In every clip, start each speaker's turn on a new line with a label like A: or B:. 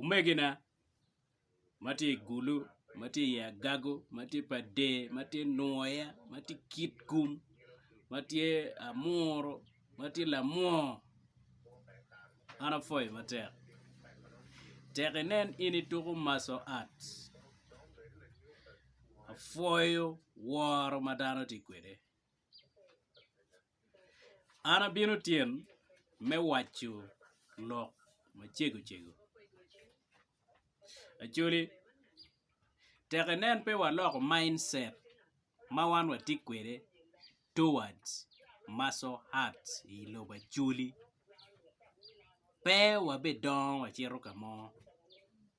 A: Omegina ma tye i gulu ma tye i agago ma tye pa dee ma tye nwoya ma tye kitkum ma tye amuru ma tye lamwoo an apwoyo matek tek inen in ituko maco art apwoyo woro ma dano tye kwede. An abino tyen me waco lok macego cego. Actually tek inen pe waloko mind set ma wan watye kwede towards muscle heart i lobo actually pe wabidongo wacito ka mo.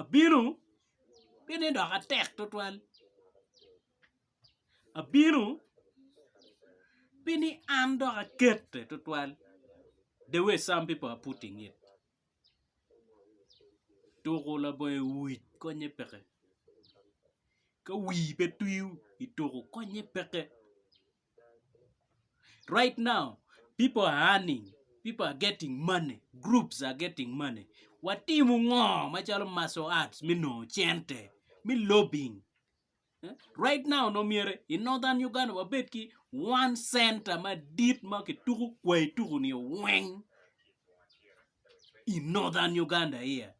A: Abino, pi ni dok atek twatwal, abino, pi ni an dok akete twatwal, the way some people are putting it, tuku labongo i wic konye peke, ka wii pe twiyo i tuku konye peke. Right now people are earning, people are getting money, groups are getting money. Watimo ngo macalo martial arts me nongo cente, me lobbying. Right now nongo myero i northern Uganda wabed ki one center madit ma kituko kwai tuko-ni weng i northern Uganda here.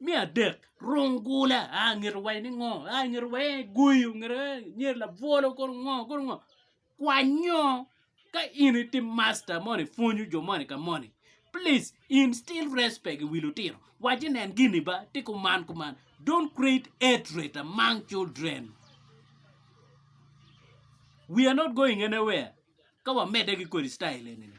A: Me adek rung gula aa ngete wa ni ngo aa ngete wa en aye gweyo ngete wa en aye labwolo kono ngo kono ngo kwanyo ka in iti masta moni pwonyo jo moni ka moni plis instil respect i wi lutino wacci nen gini ba ti kuman kuman don't creat hatred among children we are not going anywhere ka wamedde ki kodi citayil eni-ni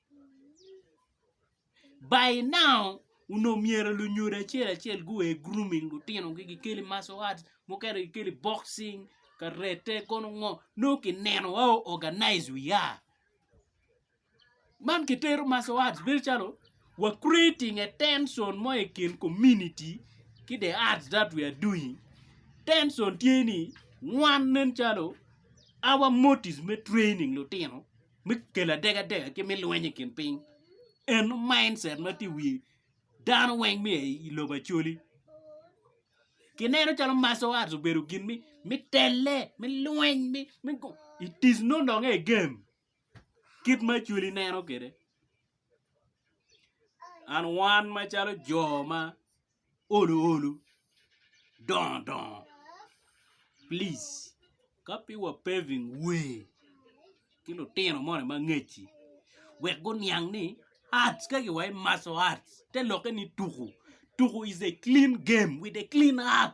A: By now, onongo myero lunyodo acel acel gua i grooming lutinogi gikele i martial arts mukene gikele i boxing, karate kono ngo nongo kineno wa o organise wiya. Man kitero martial arts bedo calo wa creating a tension mo i kin community ki the arts that we are doing. Tension tye ni wan nen calo our motive me training lutino. me kelo adegadega ki me lweny i kin piny eno mindset ma tye i wi dano weng me aye i lobo Acholi ki neno calo martial arts obedo gin me telle me lweny it is no longer a game kit ma Acholi neno kwede. and wan macalo jo ma olo olo dongo dongo please ka pe wa paving way ki lutino moni ma angeci wek guniang ni arts ka wa ki maco arts te lokke ni tuku, tuku is a clean game with a clean heart.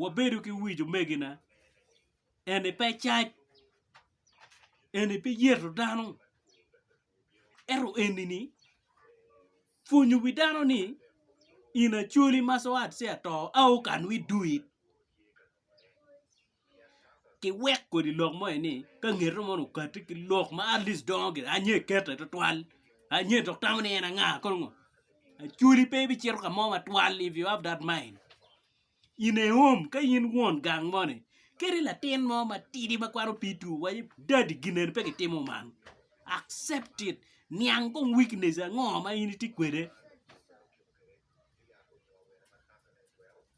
A: wabedo ki wic omegina eni pe cac eni pe yeto dano ento enini pwonyo wi dano ni in acholi ma co ato aokanwa idul. kiwek kodi lok mo ni ka ngete mono okati ki lok ma at least dongo gire anye kete twatwal anye dok tamo ni en anga kono ngo acholi pe ibicito ka mo matwal if you have that mind in a home ka in won gang moni kadi latin mo matidi ma kwano P2 waco dadi gineni pe kitimo man accept it niang kong weakness ango ma in itye kwede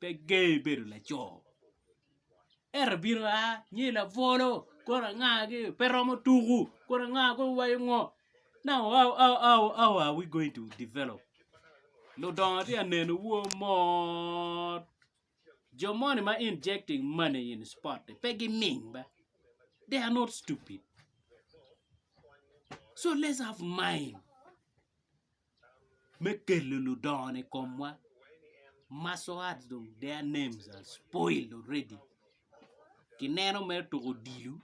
A: pe ger bedo laco ento bino a nyo i labwolo kodi anga gi pe romo tuku kodi anga kong owaco ngo now how are we going to develop ludongo tye ka neno wa mot jo moni ma injecting money in sport ni pe giming be they are not stupid so let's have mind. me kelo ludongo ni komwa martial arts dong their names are spoiled already kineno mere tuko odilo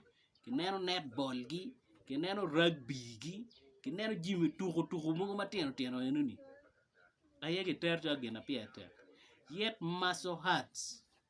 A: kineno netball gi kineno rugby gi kineno jami tuko tuko mogo matino tino eno ni aye gitero calo gin ma pire tek yet martial arts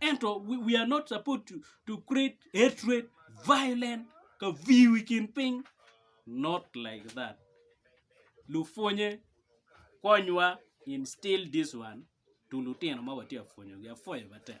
A: Ento we are not supposed to, to create hatred, violence, ka viu i kin piny. Not like that. Lupwonye, konywa instill this one to lutino ma watye ka pwonyogi. Apwoyo matek.